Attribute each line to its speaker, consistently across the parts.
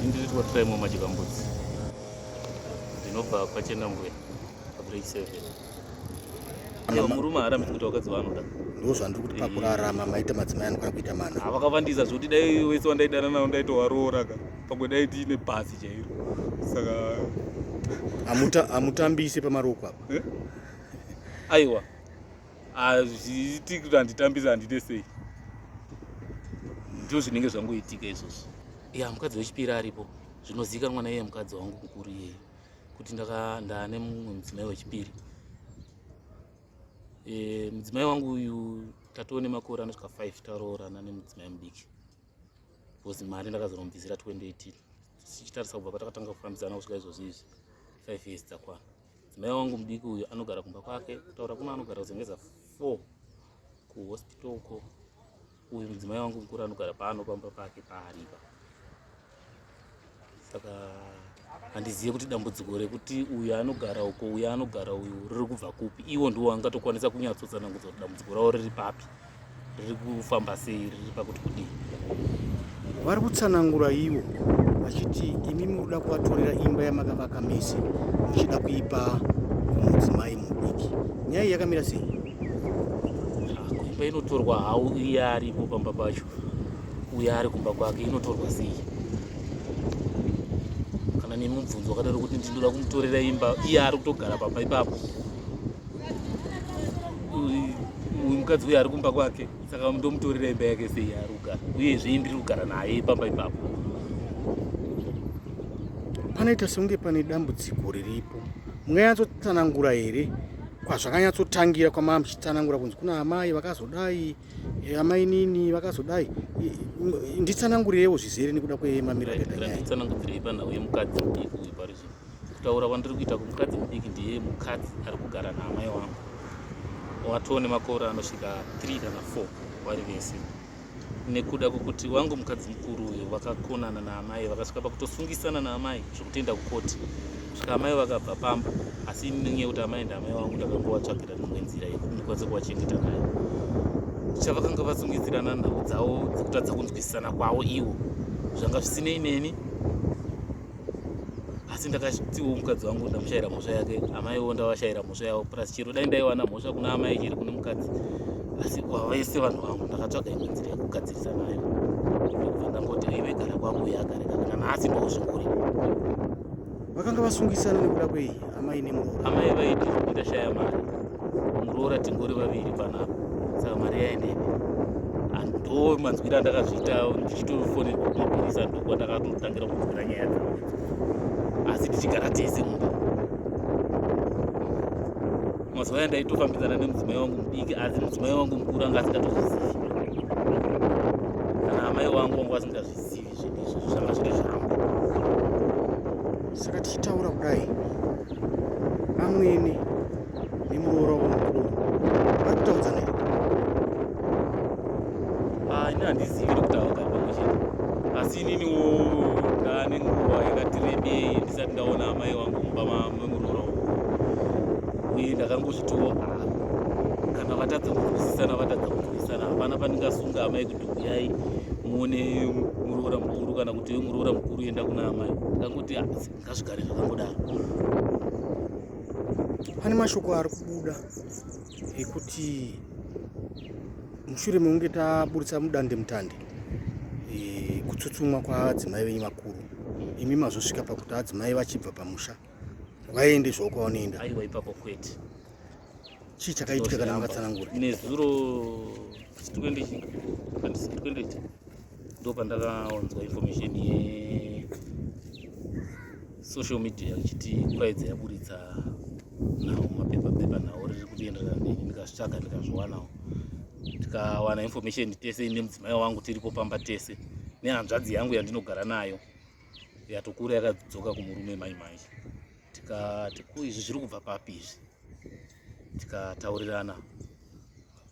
Speaker 1: Ndiri kuvatira imwe majikambudzi ndinobva kwachena mbuya pabreak seven murume haarambi kuti vakadzi vaanoda ndo zvandiri kuti
Speaker 2: pakurarama maita madzimai anokwana kuita mana havakavandisa zvoti dai
Speaker 1: wese wandaidana navo ndaitovaroora ka pamwe dai tiine bhazi chairo saka
Speaker 2: hamutambise pamaroko apa eh?
Speaker 1: aiwa hazviitiki kuti handitambisa handite sei ndizvo zvinenge zvangoitika izvozvo ya mukadzi wechipiri aripo zvinozivikanwa naiye mukadzi wangu mukuru iyeyo kuti ndane mumwe mudzimai wechipiri e, mudzimai wangu uyu tatoo nemakore anosvika 5 taroorana nemudzimai mudiki because mari ndakazoromubvisira 2018 tichitarisa kubva patakatanga kufambidzana kusvika izvozvo izvi 5 years dzakwana Mai wangu mudiki uyu anogara kumba kwake kutaura kuno anogara kuzengeza 4 kuhospital uko uyu mudzimai wangu mukuru anogara pano pamba pake paaripa saka handizive kuti dambudziko rekuti uyu anogara uko uyu anogara uyu riri kubva kupi iwo ndiwo angatokwanisa kunyatsotsanangudza kuti dambudziko ravo riri papi riri kufamba sei riri pakuti kudii
Speaker 2: vari kutsanangura ivo vachiti imi muri kuda kuvatorera imba yamakavaka mese muchida kuipa mudzimai mudiki nyaya iyi yakamira sei
Speaker 1: imba inotorwa hau iye aripo pamba pacho uye ari kumba kwake inotorwa sei kana nemubvunzo wakadaro kuti ndinoda kumutorera imba iye ari kutogara pamba ipapo uyu mukadzi uyu ari kumba kwake saka ndomutorera imba yake sei ari kugara uyezve indiri kugara naye pamba ipapo
Speaker 2: panoita sekunge pane dambudziko riripo munganyatsotsanangura here kwazvakanyatsotangira kwamama muchitsanangura kunzi kuna amai vakazodai eh, amai nini vakazodai nditsanangurirewo zvizere nekuda kwemamiro
Speaker 1: akaita nyaya kutaura kwandiri kuita kumukadzi mudiki ndiye mukadzi ari kugara naamai wangu watoo nemakore anosvika 3 kana 4 vari vese nekuda kwekuti wangu mukadzi mukuru uyo vakakonana naamai vakasvika pakutosungisana naamai zvekutenda kukoti svika amai vakabva pamba asi inyaya yekuti amai ndaamai wangu ndakangovatsvagira dzimwe nzira yekukwanisa kuvachengeta nayo chavakanga vasungidzirana nhau dzavo dzekutadza kunzwisisana kwavo ivo zvanga zvisinei neni asi ndakatiwo mukadzi wangu ndamushaira mhosva yake amaiwo ndavashaira mhosva yavo plus chero dai ndaiwana mhosva kuna amai chiri kune mukadzi asi vese vanhu vangu ndakatsvaga imwe nzira yekugadzirisa nayo ndokubva ndangoti aive gara kwangu yakareka kana nhasi ndozvinguri
Speaker 2: vakanga vasungisana nekuda kwei amai nemuroora amai vaiti zvekuti
Speaker 1: ndashaya mari muroora tingori vaviri panapa saka mari yaendepi ndo manzwira andakazviita ndichitofonerwa kumapurisa ndokwa ndakatotangira kunzwira nyaya dzavo asi tichigara tese mumba mazuva aya ndaitofambidzana nemudzimai wangu mudiki asi mudzimai wangu mukuru anga asingatozivi kana amai wangu wangu asingazvizivi zvinhu izvi zvanga zviri zvangu
Speaker 2: saka tichitaura kudai amwene nemuroora wemukuru vari kutaudza nei
Speaker 1: ah, ini handizivi ri kutaura pamwe chete asi ininiwo ndane nguva yakati rebei ndisati ndaona amai wangu mumba memuroora uku uye ndakangozvitowo ah, kana vatadza kunzwisisana vatadza kunzwisisana hapana pandingasunga amai uyai muone muroora mukuru kana kuti we muroora mukuru enda kuna amai ndakangoti ah, ngazvigare zvakangodaro
Speaker 2: pane mashoko ari kubuda ekuti mushure mekunge taburitsa mudande mutande e, kutsutsumwa kwaadzimai venyu vakuru imi mazosvika pakuti adzimai vachibva pamusha waende zvoko wanoenda aiwa ipapo kwete chii chakaitika kana makatsanangura nezuro
Speaker 1: sitwendechi pandisitwendechi ndo pandakaonzwa information ye social media ichiti kwaidzo yaburitsa nhau mapepa pepa nhau riri kutienderera mberi ndikazvitsvaga ndikazviwanawo tikawana information tese nemudzimai wangu tiripo pamba tese nehanzvadzi yangu yandinogara nayo yatokura yakadzoka kumurume mai mai tikati ko izvi zviri kubva papi izvi tikataurirana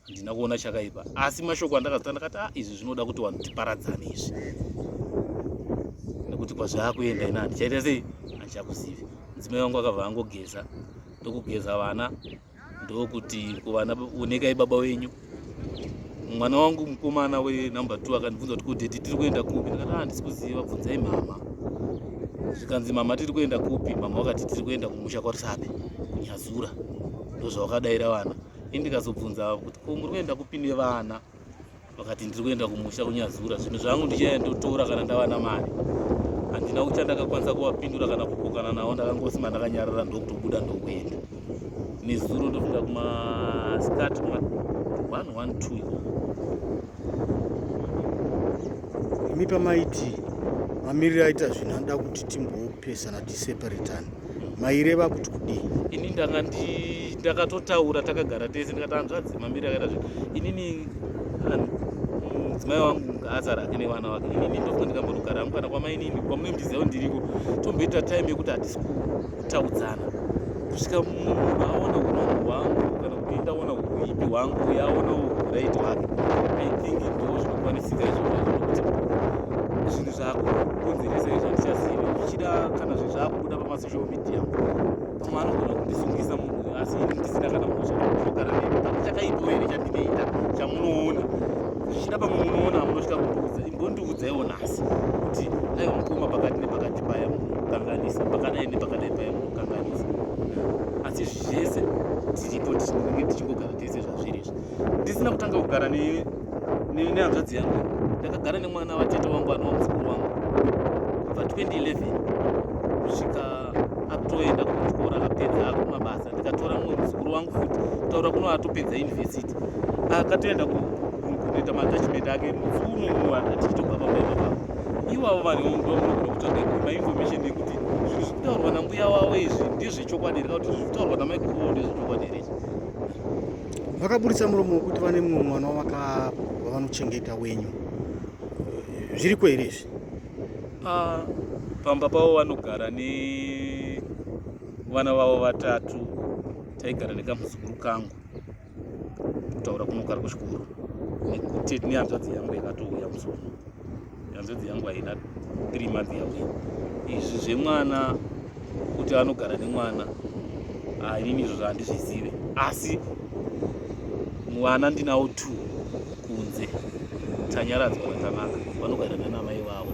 Speaker 1: handina kuona chakaipa asi mashoko andakazota ndakati a ah, izvi zvinoda kuti vanhu tiparadzane izvi nekuti kwazvaakuenda ina handichaita sei handichakuzivi mudzimai wangu akabva angogeza ndokugeza vana ndokuti kuvana onekai baba wenyu mwana wangu mukomana wenumber two akandibvunza kuti kudheti tiri kuenda kupi ndikati handisi ah, kuziva bvunzai mhama zvikanzi mama tiri kuenda kupi mama vakati tiri kuenda kumusha kwarisabe kunyazura ndozvavakadaira vana ini ndikazobvunza kuti ko muri kuenda kupi nevana vakati ndiri kuenda kumusha kunyazura zvinhu zvangu ndichaya ndotora kana ndawana mari handina kucha ndakakwanisa kuvapindura kana kukokana navo ndakangosima ndakanyarara ndokutobuda ndokuenda nezuro ndofika kumaskat ma 112 iko
Speaker 2: imi pamaiti mamiriro aita zvinhu anoda kuti timbopesana tiseparetane maireva kuti kudii ini ndanga
Speaker 1: ndakatotaura takagara tese ndikati hanzvadzi mamiri akaita zve inini mudzimai wangu ngaazara ake nevana vake inini ndobva ndikambonogara hangu kana kwamainini kwamunembiziyawo ndiriko tomboita time yekuti hatisi kutaudzana kusvika munhu aona unongo hwangu kana kuti ndaona uipi hwangu yaonawo right wake i think ndo zvinokwanisika izvozvo zvako kunzi rese izvo handichazivi zvichida kana zve zvakubuda pamasocial media pamwe anogona kundisungisa munhu asi ini ndisina kana mhosva zvinogara nemi pane chakaipo here chandinoita chamunoona zvichida pamwe munoona hamunosvika kundiudza imbondiudzaiwo nhasi kuti aiwa mukoma pakati nepakati paya munokanganisa pakadai nepakadai paya munokanganisa asi zvese tiripo tinenge tichingogara tese zvazviri izvi ndisina kutanga kugara ne nehanzvadzi yangu ndakagara nemwana vatete wangu anova muzukuru wangu kubva 2011 kusvika atoenda kuchikoro akapedza akumabasa ndikatora mumwe muzukuru wangu futi kutaura kuno atopedza university akatoenda kunoita matachment ake muzuno uno atichitobva pamaiaa ivavo vanhu ndomunokuda kutsvaga mainformation yekuti zvinhu zvekutaurwa nambuya wavo izvi ndizvechokwadi reka kuti zvikutaurwa namaiguru vavo ndezvechokwadi here
Speaker 2: vakaburitsa muromo wekuti vane mumwe mwana wavanochengeta wenyu eh, zviriko here izvi ah,
Speaker 1: pamba pavo vanogara nevana vavo vatatu taigara nekamuzukuru kangu kutaura kunogara kuchikoro nekuti nehanzvadzi yangu yakatouya musono hanzvadzi yangu haina three month yavo izvi zvemwana kuti anogara nemwana ah, inini izvo zvahandizvizive asi mwana ndinawo two kunze tanyaradzwa vatanaka vanogara nanamai vavo